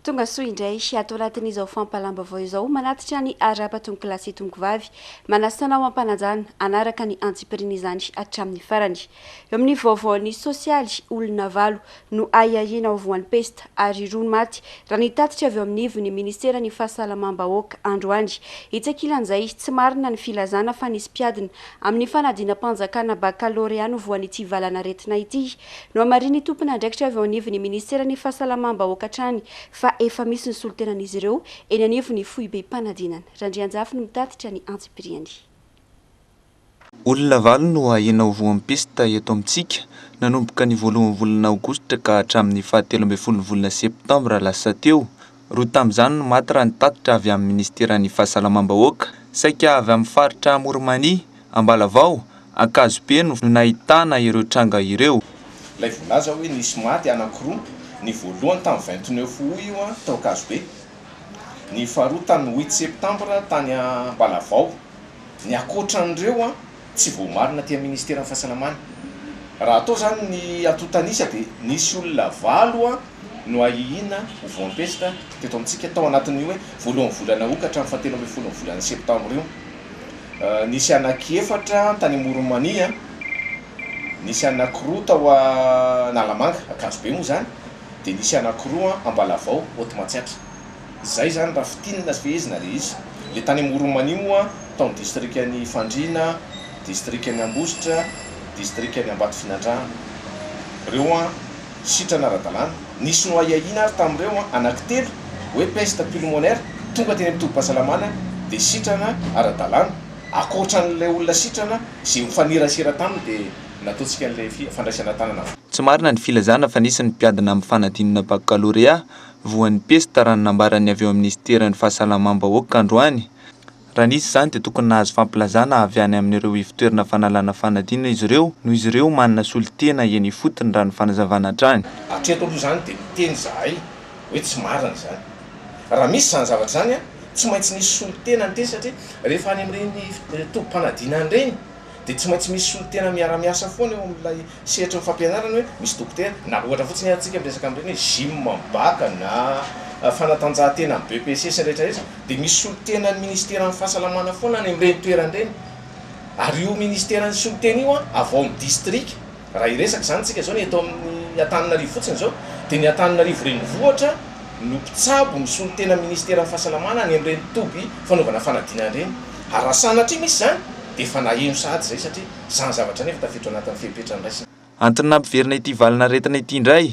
Tonga soa indray ato anatin'izao fampahalam-baovao izao manatitra ny ara-patonkilahy sy tonkovavy. Manasa anao hampanajana hanaraka ny antsipiriany izany hatramin'ny farany. Eo amin'ny vaovaon'ny sosialy, olona valo no ahiahiana ho voan'ny pesta ary roa no maty, raha ny tatitra avy eo amin'ny ivon'ny Ministeran'ny Fahasalamam-bahoaka androany. Etsy ankilan'izay, tsy marina ny filazana fa nisy mpiadina amin'ny fanadinam-panjakana bakalorea no voan'ity valan'aretina ity. Nohamarinin'ny tompon'andraikitra avy ao anivon'ny minisiteran'ny Fahasalamam-bahoaka hatrany fa efa misy ny solontenan'izy ireo eny anivon'ny foibem-panadinana. Randrianjafy no mitatitra ny antsipiriany. Olona valo no ahiana ho voan'ny pesta eto amintsika, nanomboka ny voalohan'ny volana aogositra ka hatramin'ny fahatelo ambin'ny folon'ny volana septambra lasa teo, Roa tamin'izany no maty raha ny tatitra avy amin'ny minisiteran'ny Fahasalamam-bahoaka. Saika avy amin'ny faritra Amorimania, Ambalavao, Ankazopeno no nahitana ireo tranga ireo. Ilay voalaza hoe nisy maty anankiroa, ny voalohany tamin'ny vingt neuf aout io tao Ankazobe, ny faharoa tamin'ny huit septembre tany Ambalavao. Ny ankoatran'ireo. Tsy voamarina aty amin'ny ministeran'ny fahasalamana. Raha atao izany ny atotan'isa dia nisy olona valo no ahihiana ho voampesitra teto amintsika tao anatin'ny hoe voalohan'ny volana ok hatramin'ny fahatelo ambin'ny folon'ny volana septambra io. Nisy anankiefatra tany Amoronmania, nisy anankiroa tao Analamanga, Ankazobe moa izany, dia nisy anankiroa Ambalavao, Haute Matsiatra. Zay zany raha fintinina sy fehezina le izy. Le tany Amoronmana io moa tao ny distrikan'i Fandriana, distrikan'i Ambositra, distrikan'i Ambatofinandrahana. Reo an, sitrana ara-dalàna. Nisy noahiahiana ary tamin'ireo an, anaky telo, hoe peste pulmonaire, tonga teny amin'ny tobim-pahasalamana dia sitrana ara-dalàna. Akoatran'ilay olona sitrana ze mifanerasera taminy dia nataontsika an'ilay fandraisana tanana. Tsy marina ny filazana fa nisy ny mpiadina amin'ny fanadinana bakalorea voan'ny pesta raha ny nambaran'ny avy eo amin'ny minisiteran'ny fahasalamam-bahoaka androany. Raha nisy izany dia tokony nahazo fampilazana avy any amin'ireo ivon-toerana fanalana fanadinana izy ireo noho izy ireo manana solontena eny ifotony raha ny fanazavana hatrany. Hatreto aloha izany dia miteny izahay hoe tsy marina izany. Raha misy izany zavatra izany, tsy maintsy nisy solontena niteny satria rehefa any amin'ireny tobim-panadinana ireny, Dia tsy maintsy misy solontena miara-miasa foana eo amin'ilay sehatry ny fampianarana hoe misy dokotera, na ohatra fotsiny ary tsika miresaka amin'ireny hoe gym amin'ny bac na fanatanjahantena amin'ny BEPC sy ny rehetra rehetra dia misy solontena ny ministeran'ny fahasalamana foana any amin'ireny toerana ireny ary io ministeran'ny solontena io an avy ao amin'ny distrika Raha hiresaka izany isika izao ny eto amin'ny Antananarivo fotsiny izao dia ny Antananarivo renivohitra no mpitsabo ny solontena ministeran'ny fahasalamana any amin'ireny toby fanaovana fanadinana ireny. Ary raha sanatria misy izany dia efa naheno sahady izay satria izany zavatra izany efa tafiditra ao anatin'ny fepetra niraisana. Antony nampiverina ity valin'aretina ity indray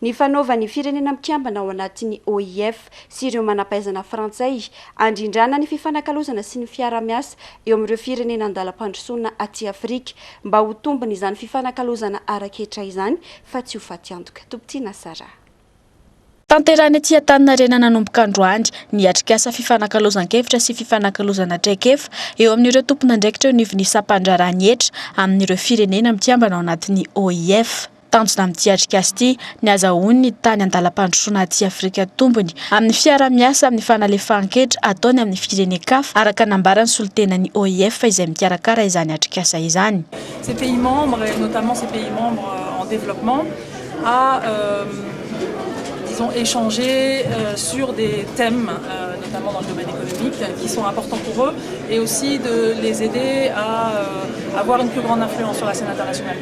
Ny fanaovan'ny Firenena Mikambana ao anatin'ny OIF sy ireo manam-pahaizana frantsay handrindrana ny fifanakalozana sy ny fiarahamiasa eo amin'ireo firenena an-dalam-pandrosoana aty Afrika mba ho tombon'izany fifanakalozana ara-ketra izany fa tsy ho fatiantoka. Topitiana Sarah. Tanterahina ety Antaninarenana nanomboka androany ny atrikasa fifanakalozan-kevitra sy fifanakalozana traikefa eo amin'ireo tompon'andraikitra eo anivon'ny sampandraharahan'ny hetra amin'ireo Firenena Mikambana ao anatin'ny OIF. Tanjona amin'ity atrikasa ity ny hazahoany ny tany an-dalam-pandrosoana aty Afrika tombony amin'ny fiaraha-miasa amin'ny fanalefahan-ketra ataony amin'ny firenen-kafa, araka nambaran'ny solontenan'ny OIF izay mikarakara izany atrikasa izany. Ces pays membres et notamment ces pays membres en développement à disons échanger sur des thèmes notamment dans le domaine économique qui sont importants pour eux et aussi de les aider à avoir une plus grande influence sur la scène internationale.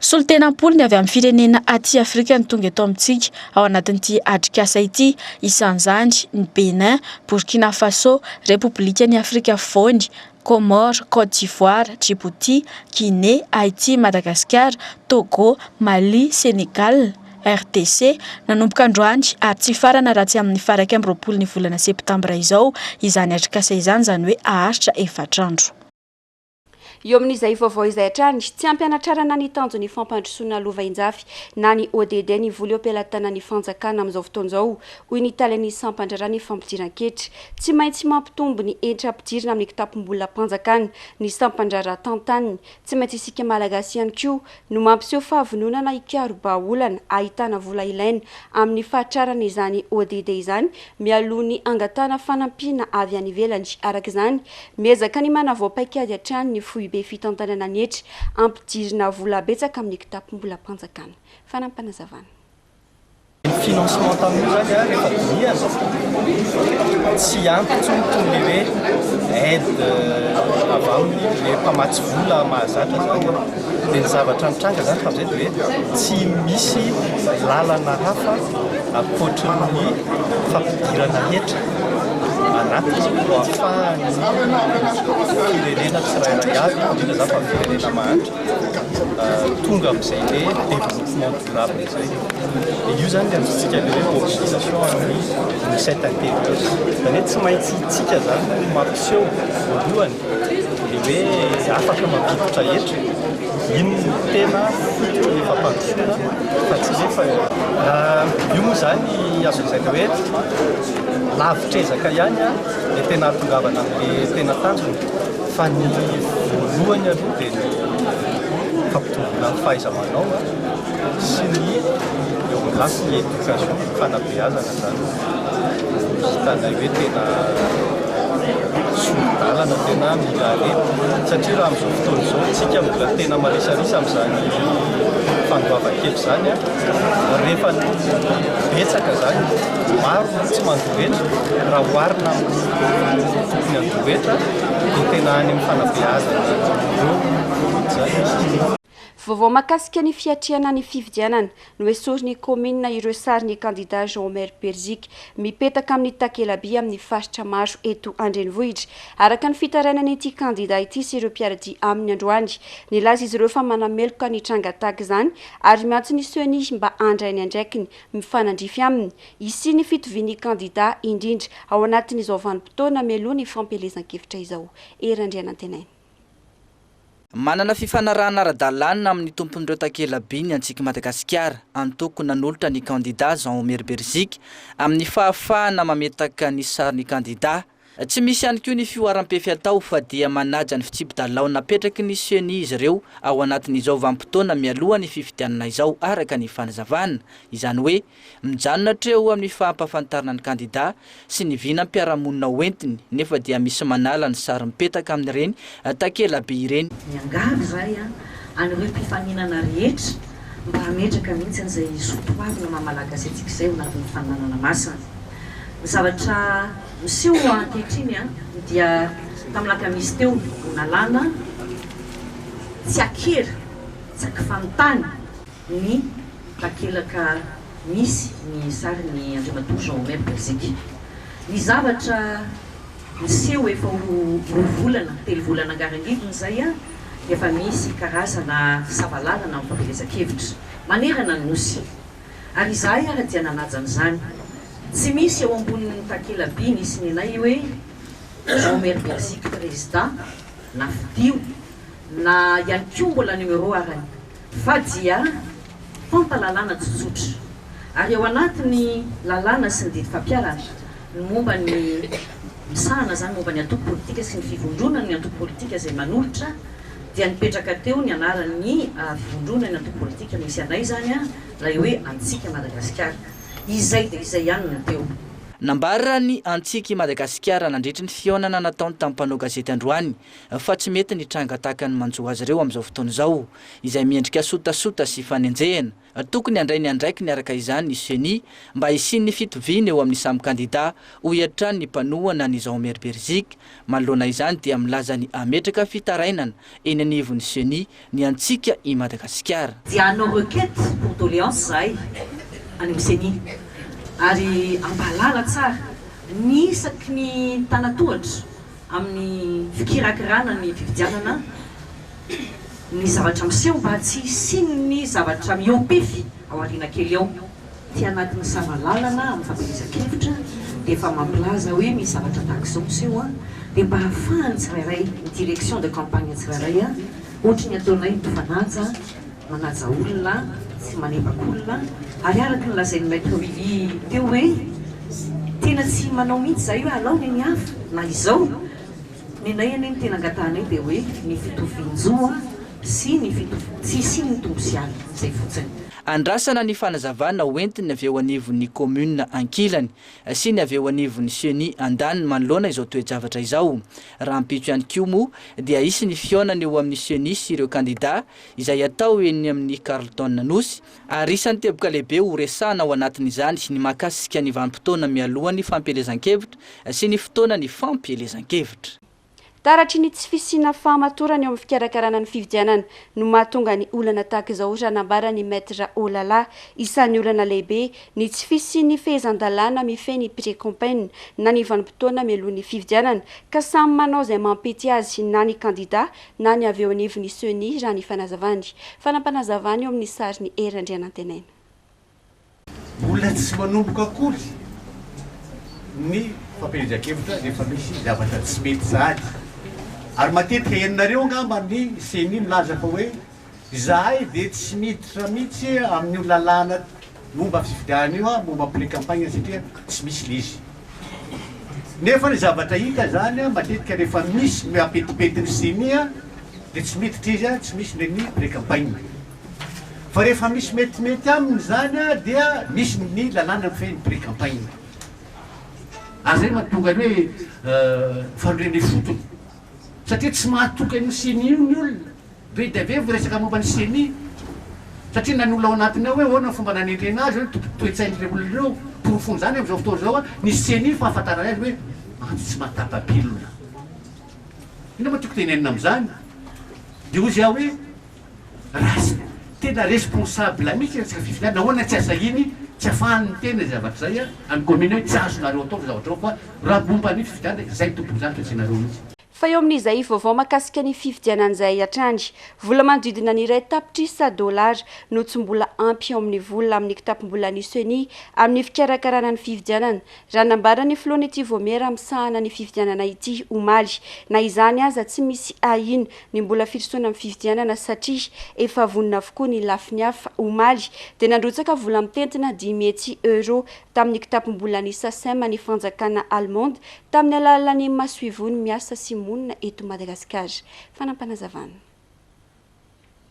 Solontenam-polony avy amin'ny firenena aty Afrika no tonga eto amintsika. ao anatin'ity atrikasa ity, isan'izany ny Bénin, Burkina Faso, Repoblikan'i Afrika Afovoany, Comores, Côte d'Ivoire, Djibouti, Guinée, Haïti, Madagasikara, Togo, Mali, Sénégal, RDC, nanomboka androany ary tsy hifarana raha tsy amin'ny faha iraika amby roapolon'ny volana septambra izao izany atrikasa izany, izany hoe haharitra efatra andro. Eo amin'izay vaovao izay hatrany, tsy ampy hanatrarana ny tanjon'ny fampandrosoana lova injafy na ny ODD ny vola eo am-pelatanan'ny fanjakana amin'izao fotoana izao, hoy ny talen'ny sampan-draharahan'ny fampidiran-ketra. Tsy maintsy mampitombo ny hetra ampidirina amin'ny kitapom-bolam-panjakana ny sampan-draharaha tantaniny. Tsy maintsy isika Malagasy ihany koa. no mampiseho fahavononana hikarobaolana ahitana vola ilaina amin'ny fahatrarana izany ODD izany mialoha ny hangatahana fanampiana avy any ivelany. Araka izany, miezaka ny manavao paikady hatrany ny Foibe Fitantanana ny hetra, ampidirina vola betsaka amin'ny kitapom-bolam-panjakana. Fanampinazavana. Financement tamin'io zany a rehefa dinihana tsy ampy intsony toy ny hoe aide avy aminy le mpamatsy vola mahazatra zany a. Dia ny zavatra nitranga zany fa amizay dia hoe tsy misy lalana hafa ankoatry ny fampidirana hetra anaty ho afahan'ny firenena tsirairay avy, indrindra zany fa ny firenena mahantra, tonga amizay le développement. Io zany le antsointsika le hoe mobilisation an'ny dix-sept avril. Zany hoe tsy maintsy isika zany no mampiseho voalohany le hoe afaka mampivotra hetra, iny no tena fototra ny fampandrosoana fa tsy le fa io moa zany azo lazaina hoe lavitr'ezaka ihany le tena hahatongavana amle tena tanjona fa ny voalohany aloha de ny fampitomboana ny fahaiza-manao. sy ny geografy ny éducation ny fanabeazana zany no hitanay hoe tena soridalana tena mila aleha satria raha amizao fotoana izao tsika mbola tena marisarisa amizany fandoava kely zany a rehefa betsaka zany maro no tsy mandohetra raha oharina amin'ny tokony andohetra dia tena any amin'ny fanabeazana ireo zany Vaovao mahakasika ny fiatrehana ny fifidianana, noesorin'ny kaominina ireo sarin'ny kandida Jean Omer Berziky mipetaka amin'ny takela-by amin'ny faritra maro eto an-drenivohitra. Araka ny fitarainan'ity kandida ity sy ireo mpiara-dia aminy androany, nilaza izy ireo fa manameloka ny tranga tahaka izany ary miantso ny Ceni mba handray ny andraikiny mifanandrify aminy hisian'ny fitovian'ny kandida indrindra ao anatin'izao vanim-potoana mialoha ny fampielezan-kevitra izao. Hery Andrianantenaina. Manana fifanarahana ara-dalàna amin'ny tompon'ireo takela-by ny Antsika Madagasikara, antoko nanolotra ny kandidà Jean Omer Berzika, amin'ny fahafahana mametaka ny sarin'ny kandidà. Tsy misy ihany koa ny fihoaram-pefy atao fa dia manaja ny fitsipi-dalao napetraky ny Ceni izy ireo ao anatin'izao vanim-potoana mialoha ny fifidianana izao, araka ny fanazavana. Izany hoe. Mijanona hatreo amin'ny fahampafantarana ny kandida sy ny vinam-piarahamonina ho entiny nefa dia misy manala ny sary mipetaka amin'ireny takelaby ireny. Miangavy izahay an'ireo mpifaninana rehetra mba hametraka mihitsy izay zo toavina maha Malagasy antsika izay ao anatin'ny faninanana masina. Ny zavatra miseho ankehitriny dia tamin'ny lakamisy teo no nalana tsy an-kery, tsy an-kifanontana. ny takelaka misy ny sarin'i Andriamatoa Jean Omer Belziky. Ny zavatra niseho efa ho roa volana, telo volana angarangidiny izay dia efa misy karazana sava lalana mifampielezan-kevitra manerana ny Nosy. Ary izahay ary dia nanaja an'izany. Tsy misy eo ambonin'ny takela-by nisy ny anay hoe Jean Omer Belziky prezida, na fidio, na ihany koa mbola numéro arany. Fa dia mpampa lalàna tsotsotra. Ary ao anatin' ny lalàna sy ny didy fampiharana ny momba ny misahana izany momba ny antoko politika sy ny fivondronan' ny antoko politika izay manolotra dia nipetraka teo ny anaran' ny fivondronan' ny antoko politika misy anay izany an ilay hoe Antsika i Madagasikara. Izay dia izay ihany no teo. Nambaran' ny Antsika i Madagasikara nandritry ny fihaonana nataony tamin'ny mpanao gazety androany fa tsy mety ny tranga tahaka ny manjo azy ireo amin'izao fotoana izao, izay miendrika sotasota sy fanenjehana. Tokony handray ny andraikiny araka izany ny Ceni mba hisian'ny fitoviana eo amin'ny samy kandida, hoy hatrany ny mpanohana an'i Jean-Omer Berzik. Manoloana izany dia milaza ny hametraka fitarainana eny anivon'ny Ceni ny antsika i Madagasikara. Dia hanao requête pour doléance izahay any amin'ny Ceni ary hampahalala tsara ny isaky ny tana-tohatra amin'ny fikirakirana ny fifidianana ny zavatra miseho mba tsy hisian'ny zavatra mihoa-pefy ao aoriana kely ao. Tsy anaty misava lalana amin'ny fampielezan-kevitra dia efa mampilaza hoe misy zavatra tahaka izao miseho dia mba ahafahan'ny tsirairay, ny direction de campagne tsirairay ohatry ny ataonay ny Tofanaja manaja olona sy manebaka olona ary araka ny lazain'i Maître Willy teo hoe tena tsy manao mihitsy izahay hoe alao ny an'i hafa na izao, ny anay anie ny tena angatahanay dia hoe ny fitovian-jo sy ny tsy hisian'ny tombosiala, izay fotsiny. Andrasana ny fanazavana ho entin'ny avy eo anivon'ny kaominina ankilany sy ny avy eo anivon'ny Ceni andaniny manoloana izao toe-javatra izao. Rahampitso ihany koa moa dia hisy ny fihaonana eo amin'ny Ceni sy ireo kandidà izay hatao eny amin'ny Carlton Nosy ary isan'ny teboka lehibe ho resahana ao anatin'izany ny mahakasika ny vanim-potoana mialohan'ny fampielezan-kevitra sy ny fotoana ny fampielezan-kevitra. Taratry ny tsy fisiana fahamatorana eo amin'ny fikarakarana ny fifidianana no mahatonga ny olana tahaka izao raha nambaran'i Maître Olala. Isan'ny olana lehibe ny tsy fisian'ny fehezan-dalàna mifehy ny pre-campaign na ny vanim-potoana mialohan'ny fifidianana ka samy manao izay mampety azy na ny kandida na ny avy eo anivon'ny Ceni raha ny fanazavany. Fanampanazavan'eo amin'ny sary ny Hery Andrianantenaina. Mbola tsy manomboka akory ny fampielezan-kevitra rehefa misy zavatra tsy mety sahady. Ary matetika henonareo angamba ny ceni milaza fa hoe izahay dia tsy miditra mihitsy amin'io lalàna momba fifidianana io aho, momba pre-campagne satria tsy misy ilay izy. Nefa ny zavatra hita izany matetika rehefa misy ny apetipety ny ceni dia tsy miditra izy, tsy misy ilay ny pre-campagne. Fa rehefa misy metimety aminy izany dia misy ny lalàna mifehy ny prix campagne. Ary izay no mahatonga ny hoe fanorenana ifotony. Satria tsy mahatoky an'io ceni io ny olona. Be dia be vao resaka momba ny ceni. Satria na ny olona ao anatiny ao hoe ahoana ny fomba nanendrena azy, hoe ny toe-tsain'ireo olona ireo. Porofon'izany amin'izao fotoana izao ny ceni no fahafantarana azy hoe ato tsy mahatapa-bilona. Inona moa tiako tenenina amin'izany? Dia hoy izy aho hoe Ratsy. Tena responsable mihitsy resaka fifidianana, nahoana tsy asahiny, tsy afahany miteny izay zavatra izay any commune hoe tsy azonareo atao izay zavatra izao fa raha momba ny fifidianana dia izay tompondranty fa tsy ianareo mihitsy. Fa eo amin'izay vaovao mahakasika ny fifidianana izay hatrany, vola manodidina ny iray tapitrisa dollars no tsy mbola ampy eo amin'ny vola amin'ny kitapom-bolan'ny Ceni amin'ny fikarakarana ny fifidianana, raha nambaran'ny filohan'ity vaomiera misahana ny fifidianana ity omaly. Na izany aza, tsy misy ahiana ny mbola firosoana amin'ny fifidianana satria efa vonona avokoa ny lafiny hafa, omaly dia nandrotsaka vola mitentina dimy hetsy euros tamin'ny kitapom-bolan'ny Sacem ny fanjakana Allemande tamin'ny alalan'ny masoivohony miasa sy monina eto Madagasikara. Fanapanazavana.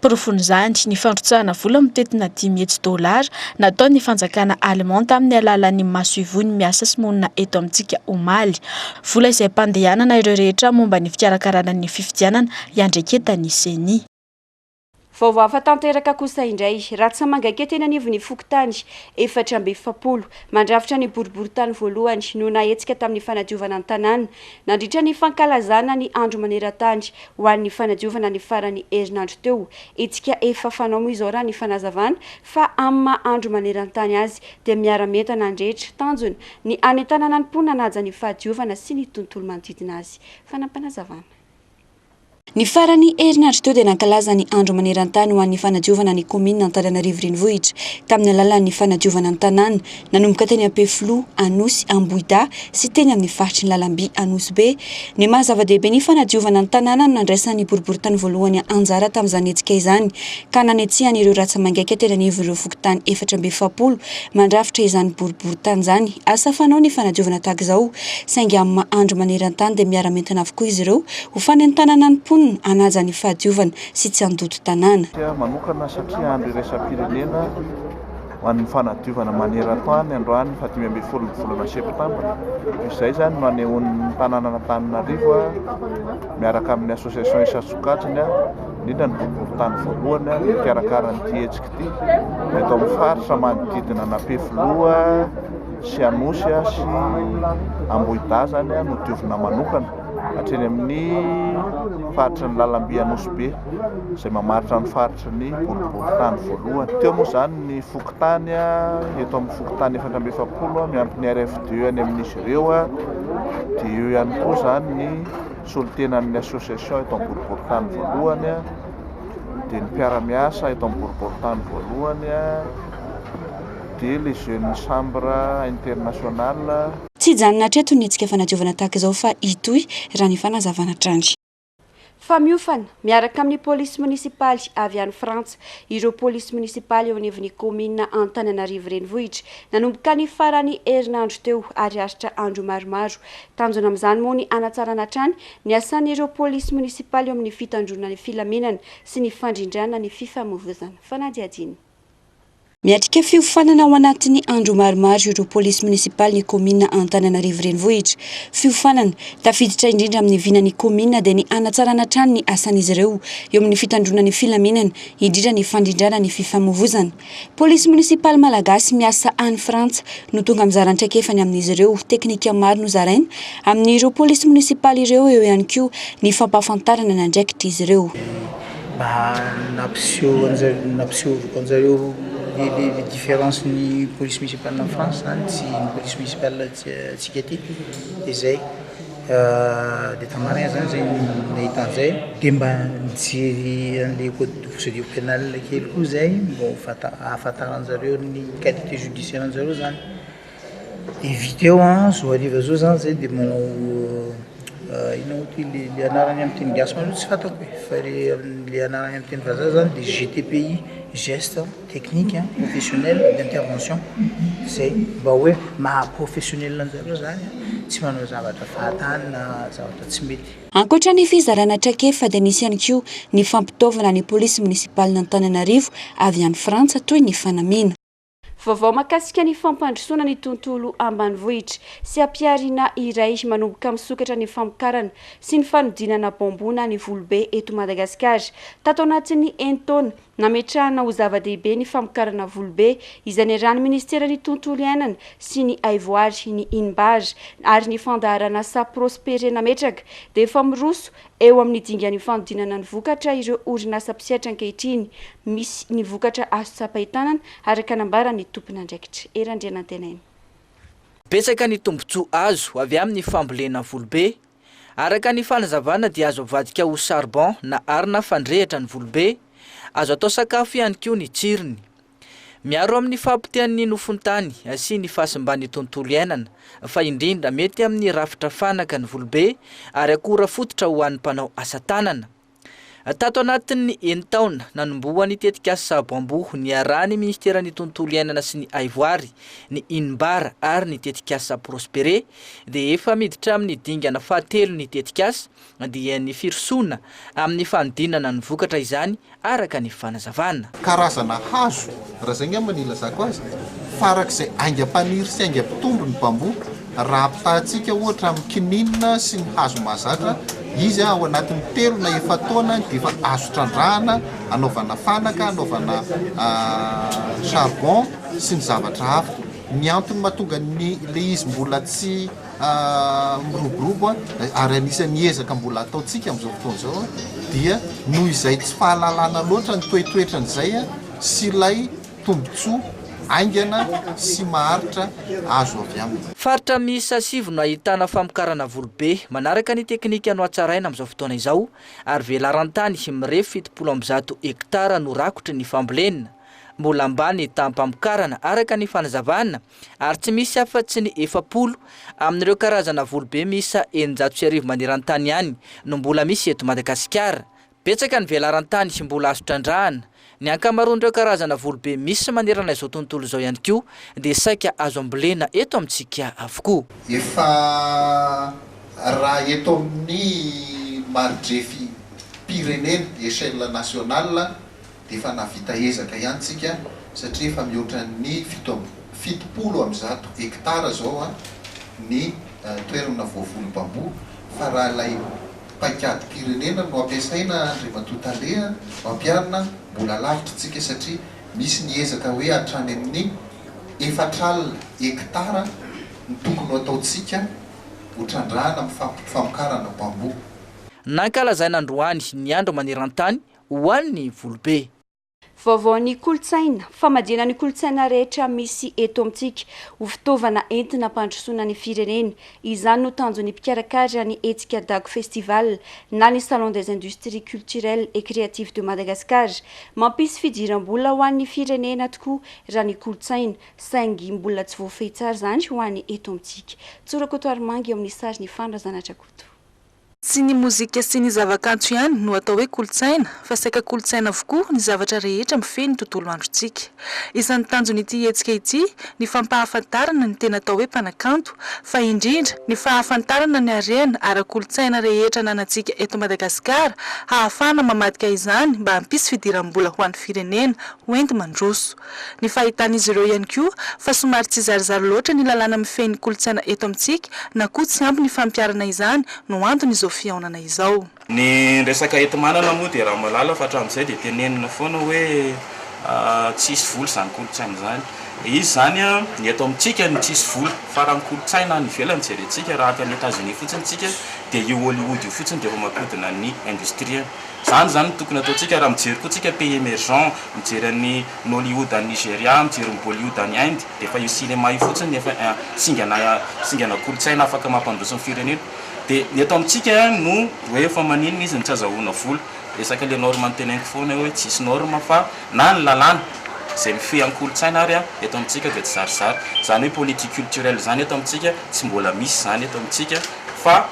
Porofon'izany ny fandrotsahana vola mitentina dimy hetsy dolara nataon'ny fanjakana Allemand tamin'ny alalan'ny masoivohony miasa sy monina eto amintsika omaly. Vola izay hampandehanana ireo rehetra momba ny fikarakarana ny fifidianana iandreketan'ny Ceni. Vaovao hafa tanteraka kosa indray, rantsa mangaikety eny anivon'ny fokontany efatra amby efapolo mandrafitra ny boriborintany voalohany no nahetsika tamin'ny fanadiovana ny tanàna nandritra ny fankalazana ny andro maneran-tany ho an'ny fanadiovana ny faran'ny herinandro teo. Hetsika efa fanao moa izao raha ny fanazavana fa amin'ny maha andro manerantany azy dia miara-mientana ny rehetra. Tanjona ny hanentanana ny mponina hanaja ny fahadiovana sy ny tontolo manodidina azy. Fanampinazavana. Ny faran'ny herinandro teo dia nankalaza ny andro manerantany ho an'ny fanadiovana ny kaominina Antananarivo Renivohitra tamin'ny alalan'ny fanadiovana ny tanàna Nanomboka teny Ampefiloha, Anosy, Ambohidahy sy teny amin'ny faritry ny lalamby Anosy Be, ny maha zava-dehibe ny fanadiovana ny tanàna no nandraisan'ny boriborintany voalohany anjara tamin'izany hetsika izany ka nanetsehany ireo ratsa-mangaika teny anivon'ireo fokontany efatra amby efapolo mandrafitra izany boriborintany izany. Asa fanao ny fanadiovana tahaka izao saingy amin'ny maha andro maneran-tany dia miara-mientana avokoa izy ireo ho fanentanana ny mponina hanaja ny fahadiovana sy tsy handoto tanàna. Manokana satria andro iraisam-pirenena. ho an'ny fanadiovana maneran-tany androany ny fahadimy ambin'ny folon'ny volana septambra. Izay izany no anehoan'ny tanànan'Antananarivo miaraka amin'ny association isan-tsokajiny, indrindra ny boriborintany voalohany no mikarakara an'ity hetsika ity eto amin'ny faritra manodidina an'Ampefiloha sy Anosy sy Ambohidazany no diovina manokana hatreny amin'ny faritry ny lalamby Anosibe izay mamaritra ny faritra Ohatry ny boribory tany voalohany. Teo moa izany ny fokontany, eto amin'ny fokontany efatra amby efapolo miampy ny RFD any amin'izy ireo, dia eo ihany koa izany ny solontenan'ny association eto amin'ny boribory tany voalohany, dia ny mpiara-miasa eto amin'ny boribory tany voalohany, dia les jeunes chambre internationale. Tsy hijanona hatreto ny hetsika fanadiovana tahaka izao fa hitohy, raha ny fanazavana hatrany. fa miofana miaraka amin'ny polisy monisipaly avy any Frantsa ireo polisy monisipaly eo anivon'ny kaominina Antananarivo Renivohitra nanomboka ny faran'ny herinandro teo ary aritra andro maromaro. Tanjona amin'izany moa ny hanatsarana hatrany ny asan'ireo polisy monisipaly eo amin'ny fitandroana ny filaminana sy ny fandrindrana ny fifamoivoizana. Fanadihadiana. Miatrika fiofanana ao anatin'ny andro maromaro ireo polisy monisipalin'ny kaominina Antananarivo Renivohitra. Fiofanana tafiditra indrindra amin'ny vinan'ny kaominina dia ny hanatsarana hatrany ny asan'izy ireo eo amin'ny fitandroana ny filaminana, indrindra ny fandrindrana ny fifamoivozana. Polisy monisipaly malagasy miasa any Frantsa no tonga mizara ny traikefany amin'izy ireo. Teknika maro no zaraina amin'ireo polisy monisipaly ireo, eo ihany koa ny fampahafantarana ny andraikitr'izy ireo. Mba nampiseho anjareo nampisehoziko anjareo ny ny ny différence ny police municipale any France zany sy ny police municipale aty antsika aty de zay, de tena marigna zany zay nahita an'zay de mba nijery an'le code de procedure penale kely koa zay mbô ho fanta- ahafantaranjareo ny qualité judiciaire anjareo zany. Eviteo an, zo hariva zo zany zay de manao inona moa ty le le anarany amin'ny teny gasy mantsy tsy fantako e, fa le le anarany amin'ny teny vazaha zany de GTPI, geste technique professionnel d'intervention, zay mba hoe maha professionnel anjareo zany an, tsy manao zavatra fahatany na zavatra tsy mety. Ankoatra ny fizarana traikefa dia nisy ihany koa ny fampitaovana ny polisy monisipalin'Antananarivo avy any Frantsa toy ny fanamiana. Vaovao mahakasika ny fampandrosoana ny tontolo ambanivohitra sy hampiharina iray manomboka misokatra ny famokarana sy ny fanodinana bambona ny Volobe eto Madagasikara. Tato anatin'ny enin-taona, nametrahana ho zava-dehibe ny famokarana Volobe izay niarahan'ny Ministeran'ny Tontolo iainana sy ny Haivoary, ny Inbar, ary ny Fandaharanasa Prospere nametraka dia efa miroso Eo amin'ny dingan'io fanodinana ny vokatra ireo orinasa mpisetra ankehitriny, misy ny vokatra azo tsapain-tanana, araka nambaran'ny tompon'andraikitra. Hery Andrianantenaina. Betsaka ny tombontsoa azo avy amin'ny fambolena volobe. Araka ny fanazavana dia azo avadika ho charbon na arina fandrehitra ny volobe. Azo atao sakafo ihany koa ny tsirony. Miaro amin'ny fahapotehan'ny nofon-tany sy ny fahasimban'ny tontolo iainana, fa indrindra mety amin'ny rafitra fanaka ny volobe ary akora fototra ho an'ny mpanao asa tanana. Tato anatin'ny enin-taona, nanomboha ny tetikasa Sabo-Amboho niarahan'ny Ministeran'ny Tontolo iainana sy ny Haivoary, ny Inbar ary ny tetikasa Prospere, dia efa miditra amin'ny dingana fahatelo ny tetikasa, dia ny firosoana amin'ny fanodinana ny vokatra izany araka ny fanazavana. Karazana hazo, raha izay angamba no ilazako azy, farak'izay aingam-paniry sy aingam-pitombo ny bambou. Raha ampitahatsika ohatra amin'ny kininina sy ny hazo mahazatra, izy ao anatin'ny telo na efa-taona dia efa azo trandrahana anaovana fanaka, anaovana charbon sy ny zavatra hafa. Ny antony mahatonga ny ilay izy mbola tsy. miroborobo ary anisan'ny ezaka mbola ataontsika amin'izao fotoana izao dia noho izay tsy fahalalana loatra ny toetoetran'izay sy ilay tombontsoa haingana sy maharitra azo avy aminy. Faritra miisa sivy no ahitana famokarana volo be manaraka ny teknika nohatsaraina amin'izao fotoana izao ary velaran-tany mirefy fitopolo amby zato hektara no rakotry ny fambolena. Mbola ambany taha-mpamokarana araka ny fanazavana ary tsy misy afa tsy ny efapolo amin'ireo karazana volobe miisa eninjato sy arivo maneran-tany ihany no mbola misy eto Madagasikara. Betsaka ny velaran-tany mbola azo trandrahana. Ny ankamaroan'ireo karazana volobe misy manerana izao tontolo izao ihany koa dia saika azo ambolena eto amintsika avokoa. Efa raha eto amin'ny maridrefim-pirenena, échelle nationale, dia efa nahavita ezaka ihany tsika satria efa mihoatra ny fito amby fitopolo amby zato hectares izao ny toerana voavoly bambou fa raha ilay paikadim-pirenena no ampiasaina Andriamatoa Tale mampiharina mbola lavitra tsika satria misy ny ezaka hoe hatrany amin'ny efatr'alina hectares no tokony ho ataontsika ho trandrahana amin'ny famokarana bambou. Nankalazaina androany ny Andro maneran-tany ho an'ny volobe. Vaovao ny kolontsaina, famadihana ny kolontsaina rehetra misy eto amintsika ho fitaovana entina hampandrosoana ny firenena, izany no tanjon'ny mpikarakara ny hetsika Dago Festival na ny Salon des Industries Culturelles et Créatives de Madagascar. Mampisy fidiram-bola ho an'ny firenena tokoa raha ny kolontsaina, saingy mbola tsy voafehy tsara izany ho any eto amintsika. Tsorakoto Armanga eo amin'ny sary, ny fanina Zanatrakoto. Tsy ny mozika sy ny zavakanto ihany no atao hoe kolontsaina fa saika kolontsaina avokoa ny zavatra rehetra mifehy ny tontolo androntsika. Isan'ny tanjon'ity hetsika ity ny fampahafantarana ny tena atao hoe mpanakanto fa indrindra ny fahafantarana ny harena ara-kolontsaina rehetra ananantsika eto Madagasikara hahafahana mamadika izany mba hampisy fidiram-bola ho an'ny firenena hoenti-mandroso Ny fahitan'izy ireo ihany koa fa somary tsy zarizary loatra ny lalàna mifehy ny kolontsaina eto amintsika na koa tsy ampy ny fampiharana izany no anton'izao fihaonana izao. Ny resaka enti-manana moa dia ramalala fa hatramin'izay dia tenenina foana hoe tsy hisy vola izany kolontsaina izany. Dia izy izany ny eto amintsika no tsy hisy vola fa raha ny kolontsaina any ivelany jerentsika raha any Etazonia fotsiny isika dia io Hollywood io fotsiny dia efa mampihodina ny industrie. Izany izany no tokony ataontsika raha mijery koa tsika pays emergents, mijery an'i Nollywood any Nigeria, mijery ny Bollywood any Inde, dia efa io cinéma io fotsiny no efa singana singana kolontsaina afaka mampandroso ny firenena. Dia ny eto amintsika no hoe fa maninona izy no tsy azahoana vola. Resaka le norme no teneniko foana eo hoe tsy hisy norme fa na ny lalàna izay mifehy an-kolontsaina ary eto amintsika dia tsizarizary. Izany hoe politique culturelle izany eto amintsika tsy mbola misy izany eto amintsika fa.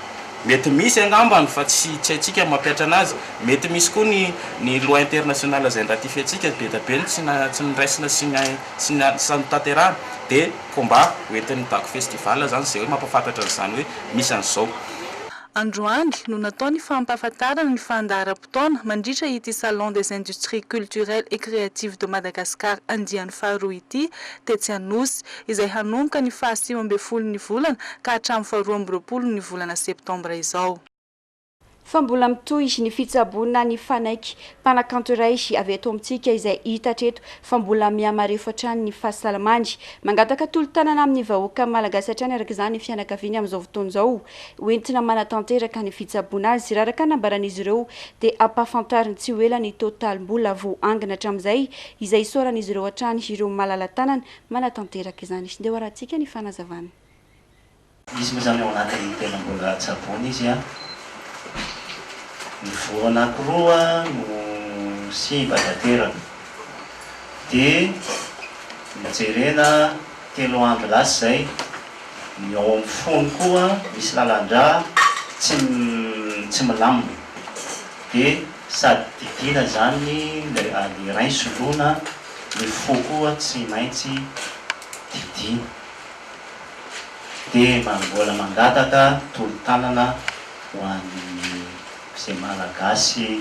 Mety misy angambany fa tsy haintsika ny mampihatra anazy. Mety misy koa ny ny loi internationale izay niratifientsika be dia be no tsy na tsy noraisina sy ny sy ny sy notanterahina. Dia combat ho entin'ny Dago Festival izany izay hoe mampahafantatra an'izany hoe misy an'izao. Androany no natao ny fampahafantarana ny fandaharam-potoana mandritra ity Salon des industries culturelles et créatives de Madagascar andiany faharoa ity tetsy Anosy, izay hanomboka ny faha sivy ambin'ny folo ny volana ka hatramin'ny faha roa amby roapolo ny volana septambra izao. Fa mbola mitohy ny fitsaboana ny fanaiky mpanakanto iray avy eto amintsika izay hita hatreto fa mbola mihamarefo hatrany ny fahasalamany. Mangataka tolo-tanana amin'ny vahoaka malagasy hatrany araka izany ny fianakaviany amin'izao fotoana izao ho entina manatanteraka ny fitsaboana azy. Raha araka ny nambaran'izy ireo dia hampahafantariny tsy ho ela ny totalim-bola voaangona hatramin'izay izay isaoran'izy ireo hatrany ireo malala-tanana manatanteraka izany. Ndeha hoarahantsika ny fanazavana. Izy moa izany ao anatin'ny telom-bola tsaboina izy an! Ny voa anankiroa no simba tanteraka dia nojerena. Telo andro lasa izay, ny ao amin'ny fony koa misy lalan-drà tsy tsy milamina. Dia sady didiana izany ilay ady rain soloina, ny fo koa tsy maintsy didiana. Dia mbola mangataka tolo-tanana ho an'ny izay Malagasy.